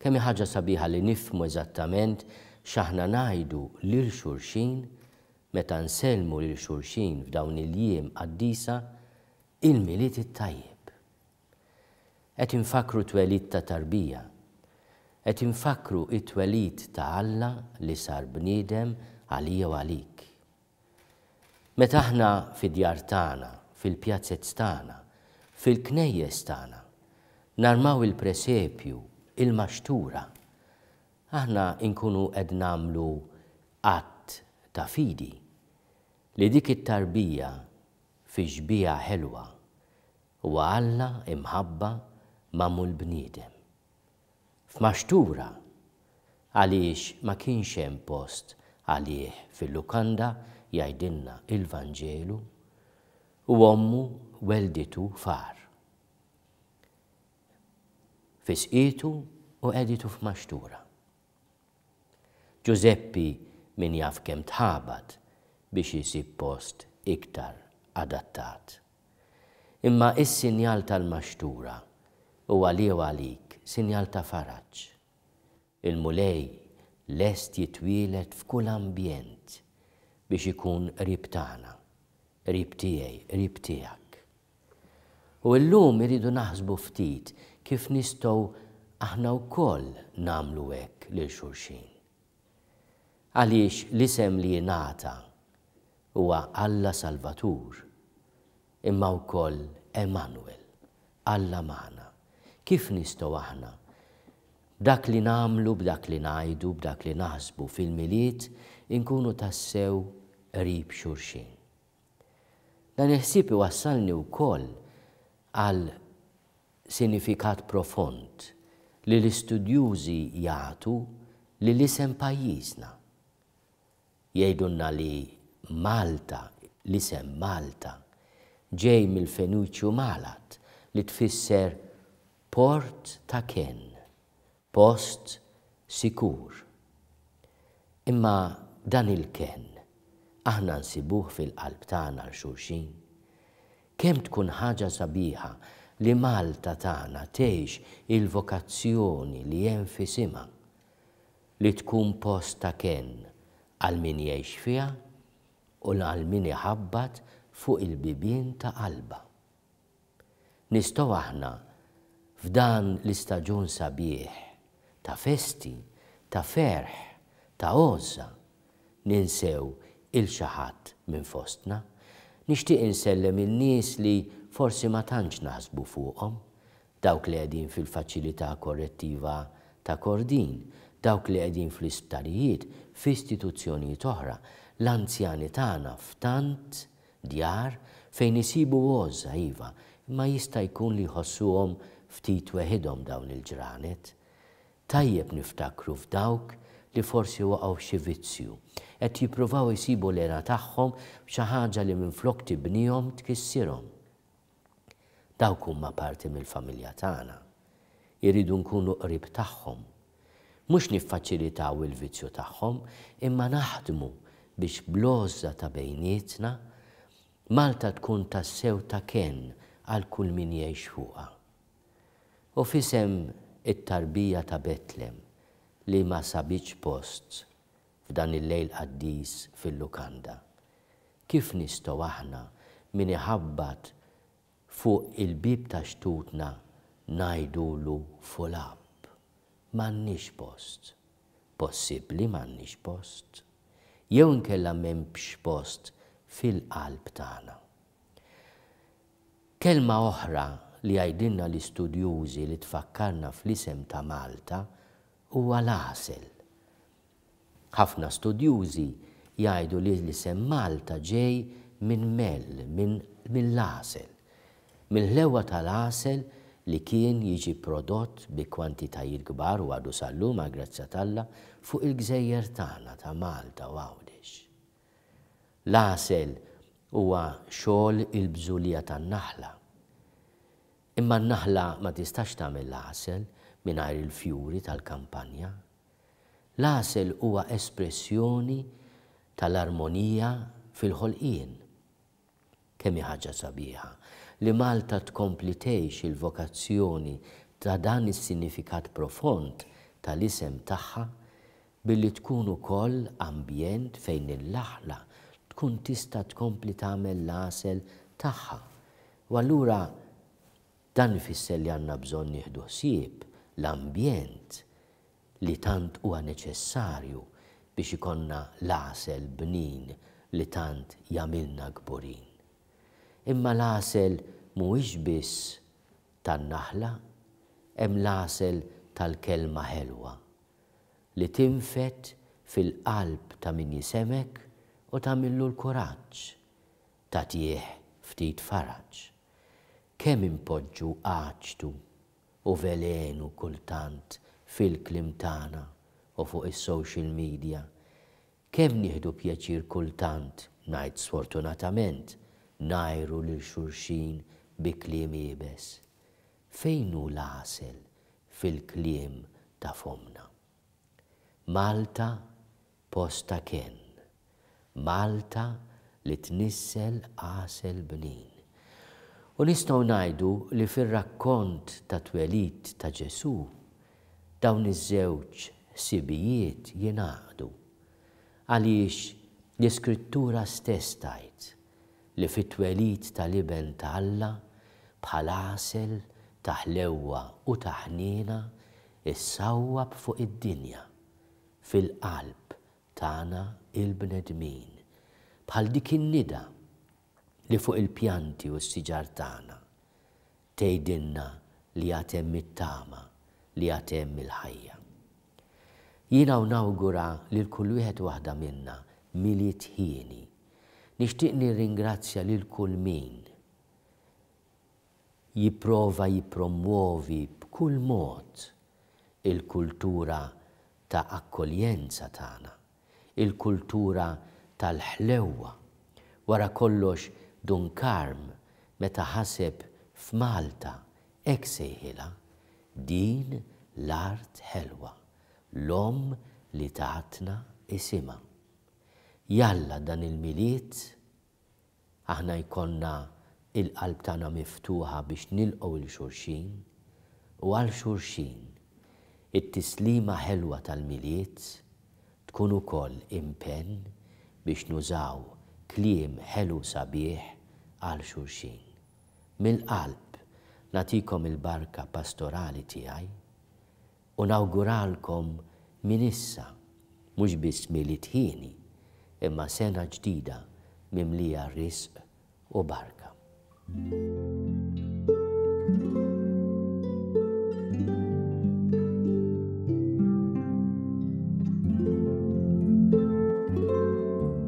Kemm hi ħaġa sabiħa li nifhmu eżattament x'aħna ngħidu lil xulxin meta nsellmu lil xulxin f'dawn il-jiem qaddisa, Il-Milied it-Tajjeb! Qed infakkru t-twelid ta' tarbija. Qed infakkru t-twelid ta' Alla li sar bniedem għalija u għalik. Meta aħna fid-djar tagħna, fil-pjazez tagħna, fil-knejjes tagħna, narmaw il-presepju, il-maxtura, aħna nkunu qed nagħmlu att ta' fidi li dik it-tarbija fi xbieha ħelwa huwa Alla imħabba magħmul bniedem. f'maxtura għaliex ma kienx hemm post għalih fil-lukanda, jgħidilna il-Vanġelu, u ommu wellditu far. Fisqietu u qegħditu f'maxtura. Ġużeppi min jaf kemm tħabat biex isib post iktar adattat. Imma is-sinjal tal-maxtura hu għali u għalik sinjal ta' faraġ. Il-Mulej lest jitwieled f'kull ambjent biex ikun qrib tagħna, qrib tiegħi, qrib tiegħek. U llum irridu naħsbu ftit kif nistgħu aħna wkoll nagħmlu hekk lil xulxin. Għaliex l-isem li jingħata huwa Alla Salvatur, imma wkoll Emanwel, Alla magħna. Kif nistgħu aħna, b'dak li nagħmlu, b'dak li ngħidu, b'dak li naħsbu fil-Milied inkunu tassew qrib xulxin? Dan il-ħsieb iwassalni wkoll għal sinifikat profond li l-istudjużi jagħtu lil isem pajjiżna. Jgħidulna li Malta, l-isem Malta, ġej mill-Feniċju Malat li tfisser Port ta' Kenn. Post sikur. Imma dan il-kenn aħna nsibuh fil-qalb tagħna għal xulxin? Kemm tkun ħaġa sabiħa li Malta tagħna tgħix il-vokazzjoni li hemm f'isimha, li tkun post ta' kenn għal min jgħix fiha u għal min iħabbat fuq il-bibien ta' qalbha. Nistgħu aħna, f'dan l-istaġun sabiħ ta' festi, ta' ferħ, ta' għożża, ninsew 'il xi ħadd minn fostna? Nixtieq insellem in-nies li forsi ma tantx naħsbu fuqhom, dawk li qegħdin fil-Faċilità Korrettiva ta' Kordin, dawk li qegħdin fl-isptarijiet, f'istituzzjonijiet oħra, l-anzjani tagħna f'tant Djar fejn isibu għożża, iva, imma jista' jkun li jħossuhom ftit weħidhom dawn il-ġranet. Tajjeb niftakru f'dawk li forsi waqgħu f'xi vizzju. Qed jippruvaw isibu l-hena tagħhom f'xi ħaġa li minflok tibnihom tkissirhom. Dawk huma parti mill-familja tagħna. Irridu nkunu qrib tagħhom. Mhux niffaċilitaw il-vizzju tagħhom, imma naħdmu biex bl-għożża ta' bejnietna, Malta tkun tassew ta' kenn għal kull min jgħix fuqha. U f'isem it-tarbija ta' Betlem li ma sabitx post f'dan il-Lejl Qaddis fil-lukanda. Kif nistgħu aħna min iħabbat fuq il-bieb ta' xtutna ngħidulu full up? M'għandniex post. Possibbli m'għandniex post? Jew inkella m'hemmx post fil-qalb tagħna? Kelma oħra li jgħidilna l-istudjużi li tfakkarna fl-isem ta' Malta Huwa l-għasel. Ħafna studjużi jgħidu li l-isem Malta ġej minn mel, minn, mill-għasel. Mill-ħlewwa tal-għasel li kien jiġi prodott bi kwantitajiet kbar u għadu sal-lum għall-grazzja t'Alla fuq il-gżejjer tagħna ta' Malta u Għawdex. L-għasel huwa xogħol il-bżulija tan-naħla. Imma n-naħla ma tistax tagħmel l-għasel mingħajr il-fjuri tal-kampanja. L-għasel huwa espressjoni tal-armonija fil-ħolqien. Kemm hi ħaġa sabiħa li Malta tkompli tgħix il-vokazzjoni ta' dan is-sinifikat profond tal-isem tagħha billi tkun ukoll ambjent fejn il-naħla tkun tista' tkompli tagħmel l-għasel tagħha U allura dan ifisser li għandna bżonn nieħdu ħsieb l-ambjent li tant huwa neċessarju biex ikollna l-għasel bnin li tant jagħmilna kburin. Imma l-għasel mhuwiex biss tan-naħla, hemm l-għasel tal-kelma ħelwa li tinfed fil-qalb ta' min jisemgħek u tagħmillu l-kuraġġ Tagħtih ftit faraġ. Kemm inpoġġu għaġtu u velenu kultant fil-kliem tagħna u fuq is-social media. Kemm nieħdu pjaċir kultant, ngħid sfortunatament, ngħajru lil xulxin bi kliem iebes. Fejn hu l-għasel fil-kliem ta' fommna? Malta post ta' kenn. Malta li tnissel għasel bnin. U nistgħu ngħidu li fir-rakkont tat-twelid ta' Ġesù, dawn iż-żewġ ħsibijiet jingħaqdu. Għaliex l-Iskrittura stess tgħid, li fit-twelid tal-Iben ta' Alla, bħal għasel ta' ħlewwa u ta' ħniena, issawwab fuq id-dinja, fil-qalb tagħna l-bnedmin, bħal dik in-nida li fuq il-pjanti u s-siġar tagħna, Tgħidilna li għad hemm it-tama, li għad hemm il-ħajja. Jiena u nawgura lil kull wieħed u waħda minna Milied hieni. Nixtieq nirringrazzja lil kull min jipprova jippromwovi b'kull mod il-kultura ta' akkoljenza tagħna. il-kultura tal-ħlewwa. Wara kollox Dun Karm meta ħaseb f'Malta hekk sejħilha, Din l-art ħelwa, l-omm li tatna isimha. Jalla dan il-Milied aħna jkollna l-qalb tagħna miftuħa biex nilqgħu 'l xulxin u għal xulxin. It-tislima ħelwa tal-Milied tkun ukoll impenn biex nużaw kliem ħelu sabiħ għal xulxin. Mill-qalb nagħtikom il-barka pastorali tiegħi. U nawguralkom minn issa mhux biss Milied hieni, imma sena ġdida mimlija risq u barka.